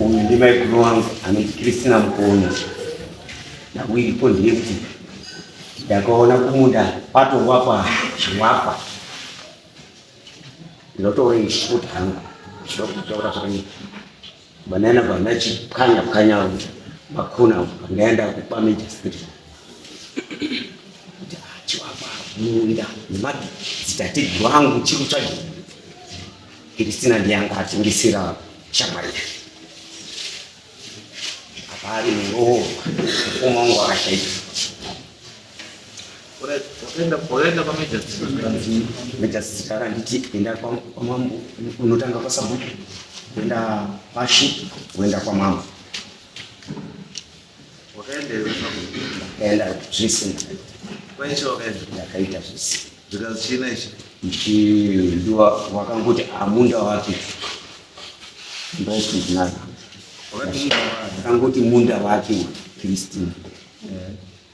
uyu ndimaiguru wangu anonzi kristina mukoni navo iripo ndiye kuti ndakaona kumunda kwatowakwa chiwakwa ndinotoona ishuta hangu zvokutora zvakanyika Banana bana chipkanya pkanya makona ndaenda kupameja street munda nemati dzitateguru angu chiri kutsvaga kiristina ndiyanga atengesera shamwari yake apa ari muroorwa mukoma wangu akashaika wakaenda kwamejasisitara anditi enda kwamambo unotanga kwasabhuku kuenda pashi kuenda kwamambo enda zvese ndakaita zvese ndichidiwa wakangoti amunda wake ndosindinaa akangoti munda wake christine eh.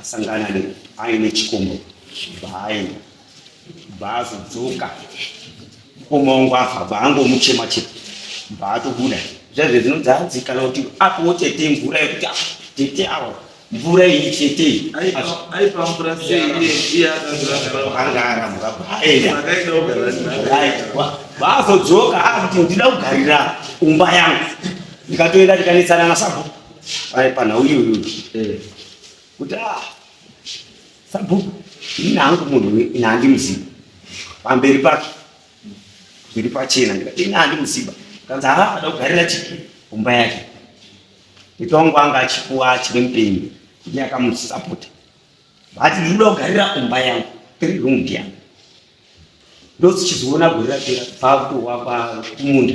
asangana ne aine chikombo baaenda baazodzoka omaongo afa baangomuchema chete baatobuda zvaizve dzinonzi hanzi kana kuti apowo tete mvura yekuti ah, tete awa mvura iyi tete baazodzoka akuti ndida kugarira umba yangu ndikatoenda ndikanetsana nasabhuku Pai pana uyu uyu. Eh. Kuti ah. Sabu ini hangu munhu ini handi muziba. Pamberi pake. Zviri pachena ndikati ini handi muziba. Kanza ha ah, ada kugarira chiki kumba yake. Mitongo anga achipuwa achiri mupenyu. Kuti akamusapota. Bati ndinoda kugarira kumba yangu. Tiri room yangu. Ndozichizoona gore rapera bva kuwa kumunda.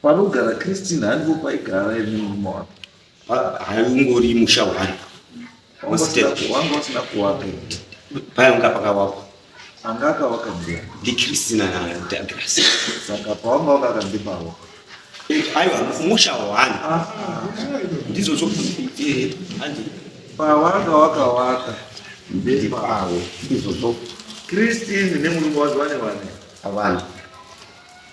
Panogara Christine handipo paigara imi murume wake. Haungori musha wani. Wanga usina kuwaka. Payanga pakawakwa. Anga akawaka mbuya. Ndi Christina na Douglas. Saka pawanga wakakambi pawo. Aiwa musha wani. Ah. Ndizvo zvo. Eh, handi. Pawanga wakawaka. Ndi pawo. Ndizvo zvo. Christine nemurume wake vane vane. Avana.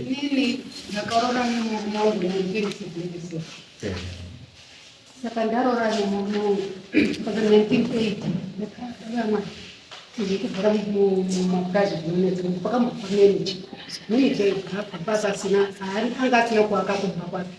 Inini ndakaroora nemurume wangu mu1974 saka ndaroora nemurume wangu kusvika 1980 ndakaamwa ndikugara mumapurazi zvinonetsa pakambofa meneja meneja ibva papa pasina anga asina kuaka kumba kwake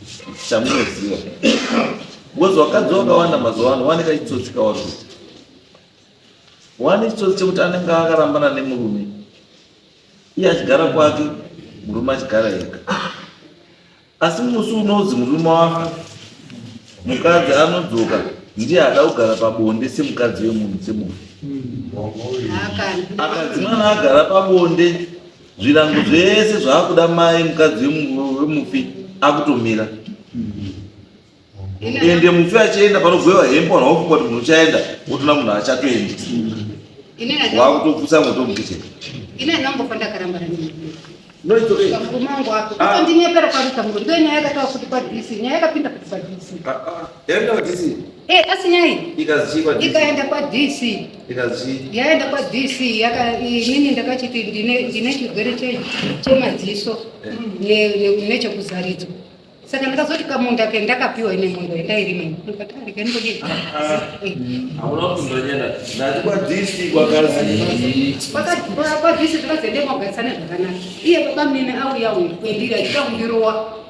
chamunoziva because vakadzi vakawanda mazuva ano vane kachitsotsi kavari kuti wane chitsotsi chekuti anenge akarambana nemurume iye achigara kwake murume achigara ega asi musi unonzi murume wafa mukadzi anodzoka ndiye ada kugara pabonde semukadzi wemunhu semunhu akadzi mwana agara pabonde Zvirango zvese zvaakuda mai mukadzi wemufi akutomira ende mufi achienda panogwewa hembe wanhu wakufunga kuti munhu uchaenda wotona munhu achatoendi wakutopusa moto mukicheni Yaenda kwa DC. Eh, hey, asinyai. Ikazi kwa DC. Ikaenda kwa DC. Ikazi. Yaenda kwa DC yaka inini ndakachiti ndine ndine chigwere che chemadziso eh. ne ne nechekuzaridzo. Saka ndakazoti kamunda ke ndakapiwa ine mondo yandairima. Ndikati ndikani kodi. Hauna kundonyenda. Ndati kwa DC kwa kazi. Kwa kwa DC zvakazoenda kwa gatsana zvakanaka. Iye baba mine au yau kwendira ikaundirowa.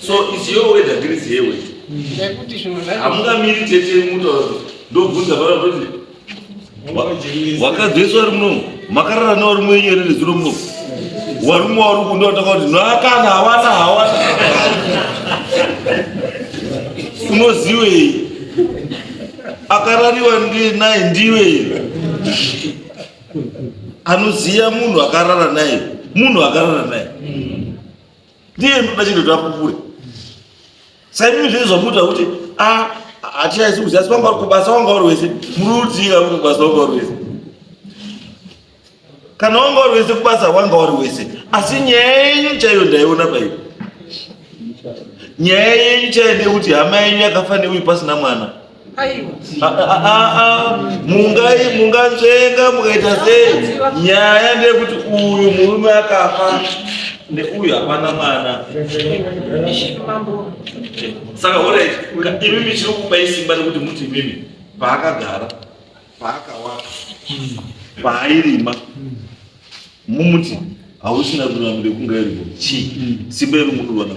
So it's your way that is your way. Nekuti zvinhu zvacho Hamungamiri tete mutaura kuti ndobvunza pano kuti wakadzeswa wari munomu makarara newari mwenyu here nezuro munomu wari mumwe wari kundo wataka kuti noakana hawana hawana unoziwei akarariwa ndiye naye ndiwei anoziva munhu akarara naye munhu akarara naye ndiye ndoda chino takupure saimimi zviri zvamuita kuti ah, hatichaisi kuziva asi vanga vari kubasa wanga vari wese muruudzira uri kubasa wanga vari wese kana wanga vari wese kubasa wanga vari wese asi nyaya yenyu chaiyo ndaiona paiyo nyaya yenyu chaiyo ndeyekuti hama yenyu yakafa neuyu pasina mwana munganzvenga mukaita sei nyaya ndeyekuti uyu murume akafa neuyu hapana mwana saka orit imimi chiri kupa isimba rekuti muti imimi paakagara paakawaka paairima mumuti hausina ruramiro kungairwo chii simba iri muruvanaa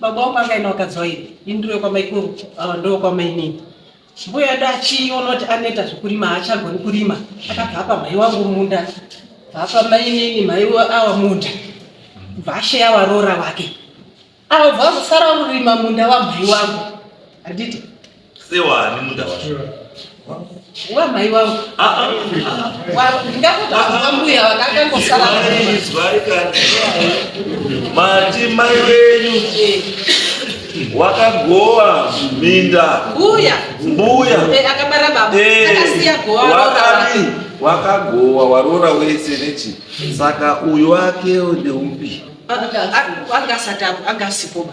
Baba wangu akaenda wakadzoira indiro kwamaikuru ah, ndo kwamainini mbuya edu achiona kuti anoita zvekurima haachagoni kurima akabva apa mhai wangu munda bvaapa mainini mhai awa munda bva asheya waroora wake ava bva vazosara kurima munda wamhai wangu handiti sewani munda wacho wamai wangu ndingakudaambuya vakakangosaizwai kani mati mai wenyu wakagowa minda mbuya mbuya eh, akabara baba eh, akasiya gowa wakati wakagowa warora wese nechi saka uyu wake ndeupi angasatapo angasikoba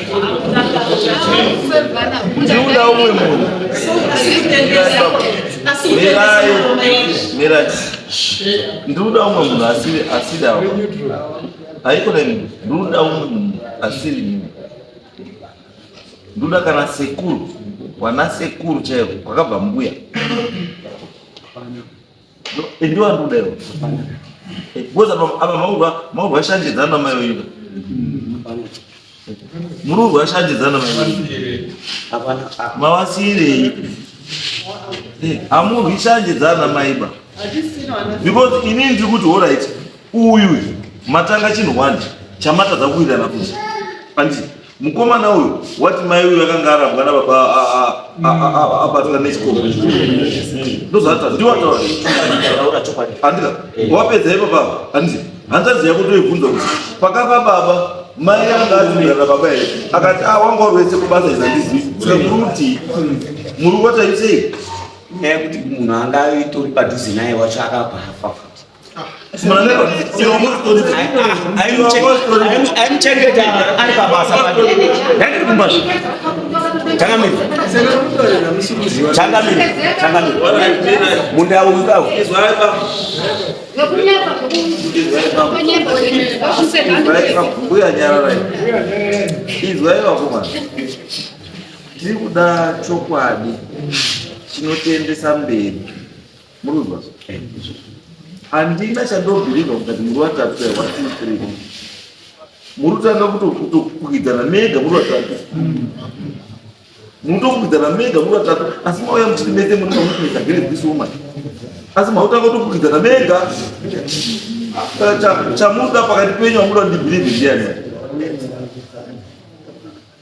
Juda umwe munhu. Mirai, mirai. Nduda umwe munhu asiri asiri awa. Haiko na mimi. Nduda umwe munhu asiri mimi. Nduda kana sekuru, wana sekuru chaivo, kwakabva mbuya. Ndio andu leo. Boza aba maurwa maurwa shanje zana mayo yuda. Mururwa shanje zana mayo yuda. Abana mawasire. Eh, amurwi shanje zana maiba. Because ini ndiri kuti all right. Uyu matanga chinhu wani chamatadza kuwirirana kuti. Pandii. Mukomana uyu wati mai uyu akanga arambwa na baba abatwa nechikoro ndozvata ndiwataura andika wapedza ipo baba anditi hanzvadzi yako toibvunza kuti pakafa baba mai yanga azimirana baba here akati a wanga urwese kubasa izandizivi sekuruti muri wataisei nyaya yekuti munhu anga itori padhuze naye wacho akabva afafa munda ukawo mbuya nyararai izwai vakomana tiri kuda chokwadi chinotiendesa mberi Munonzwa? Handina chandobhirivha kuti muri vatatu here? One, two, three. Muri kutanga kutokwidzana mega muri vatatu. Munotokwidzana mega muri vatatu asi mauya muchiti mese muri mamukuita here this woman. Asi mautanga kutokwidzana mega. Chamuda pakati penyu amuda ndibhirivhe ndiyani?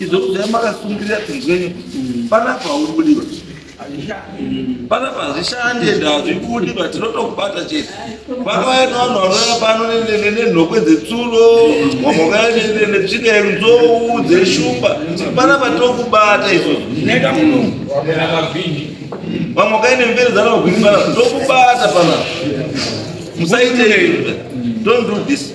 Izvo kudai makasungirira tinzwenyi panapa haubudiwa panapa hazvishandi ende hazvibudiwa tinotokubata chete vakauya nevanhu vanouya pano nenhokwe dzetsuro vamwe vakauya netsvina yenzou dzeshumba panapa tokubata izvozvo vamwe vakauya nemvere dzanavagwini panapa tokubata panapa musaite don't do this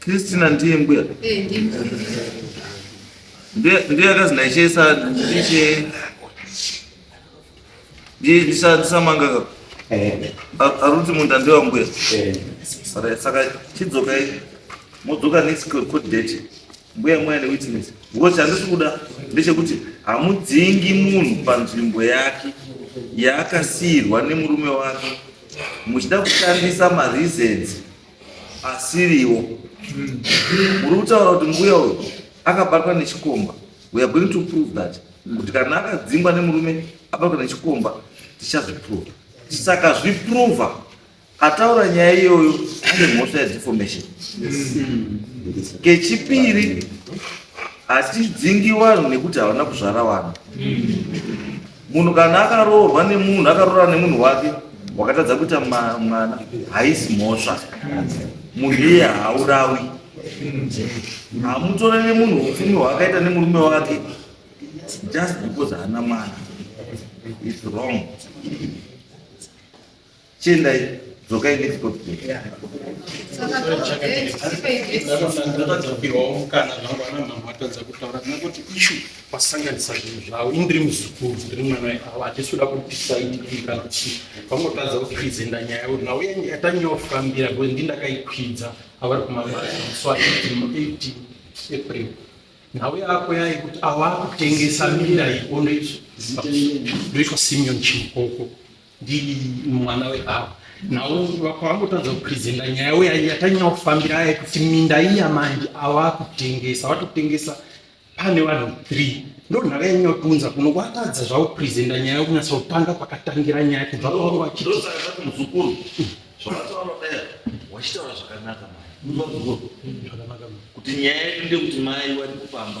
Christina ndiye mbuya eh, ndiye akazi ndaichesa ndiche ndisamanga ka eh. aruti munda ndiwa mbuya eh. saka chidzokai modzoka next code date Mbuya mweya newitness because chandisi kuda ndechekuti hamudzingi munhu panzvimbo yake yaakasiirwa nemurume wake muchida kushandisa mareasons asiriwo muri kutaura kuti mbuya uyu akabatwa nechikomba we are going to prove that kuti kana akadzingwa nemurume abatwa nechikomba tichazviprova tisaka zviprova Ataura nyaya iyoyo ane mhosva yedeformation. Kechipiri hatidzingi vanhu nekuti havana kuzvara vanhu. Munhu kana akaroorwa nemunhu akaroora nemunhu wake wakatadza kuita mwana haisi mhosva. Munhu iye haurawi. Hamutorere munhu upfumi hwaakaita nemurume wake just because haana mwana. It's wrong. Chiendai, dzokai next box. ndakadzokirwawo mukana zvangu ana mhamha vatadza kutaura nekuti ishu vasanganisa zvinhu zvavo ini ndiri muzukuru ndiri mwana weavo hatisi kuda kupisa ini kana kuti vangotadza kuti kuizenda nyaya yavo nhau yangu yatange yofambira because ndi ndakaikwidza avari kumabasa so aiti april nhau yako yayi kuti awakutengesa minda iyi ondoitwa ndoitwa simeon chimukoko Ndini mwana webaba. Now vakangotadza kupresenta nyaya uya yatanyanya kufambira aya kuti minda iya manje awakutengesa watotengesa pane vanhu three ndo nhaka yanyanya kutiunza kuno watadza zvakupresenta nyaya yokunyatsa kutanga pakatangira nyaya kubva pavangu vachiti ndosaka ndati muzukuru zvakataura dai wachitaura zvakanaka mai Unonzwa muzukuru? zvakanaka kuti nyaya yedu ndeyekuti mai vari kupamba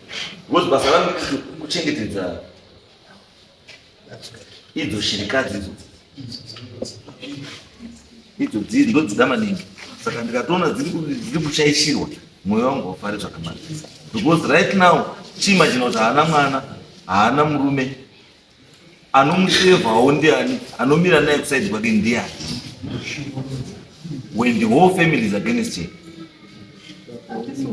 Because basa rangu kuchengetedza idzo shirikadzi idzo idzo dziri ndodzida maningi saka ndikatoona dziri kushaishirwa mwoyo wangu wafari zvakanaka because right now chima chino kuti haana mwana haana murume anomusevhawo ndiani anomira naye kuside kwake ndiani when the whole family is against him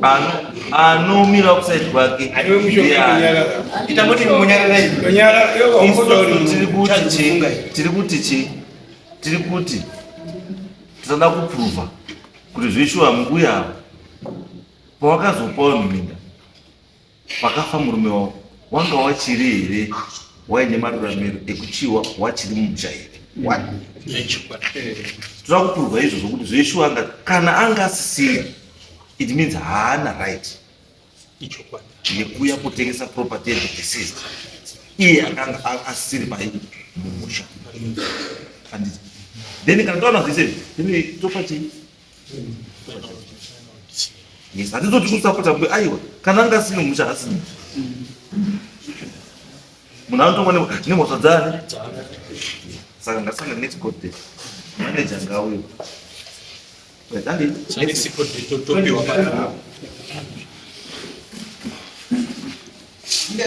Ano- anomira kuside kwake Ariwe mushoka ndiani kunyarara. Ita moti munyarara iwe. Kunyarara, iwe wakuda uri Isusu tiri kuti mutadzi chi kufunga iwe. tiri kuti chi tiri kuti tisada kupruva kuti zveshuwa mbuya ava pawakazopawo minda Pakafa murume wavo wanga wachiri here waine maruramiro ekuchiwa wachiri mumusha here toda kupurwa izvo zvokuti zveshuwa anga kana anga asisina it means haana right yekuuya kutengesa property yedeceased iye akanga asisiri pai mumusha then kana taona zvese then topa chii Yes, handizoti kusapota mbe aiwa kana anga asine musha asine munhu anotongwa nemhosva dzani saka ngasanga next court date manager ngauyo Thank you.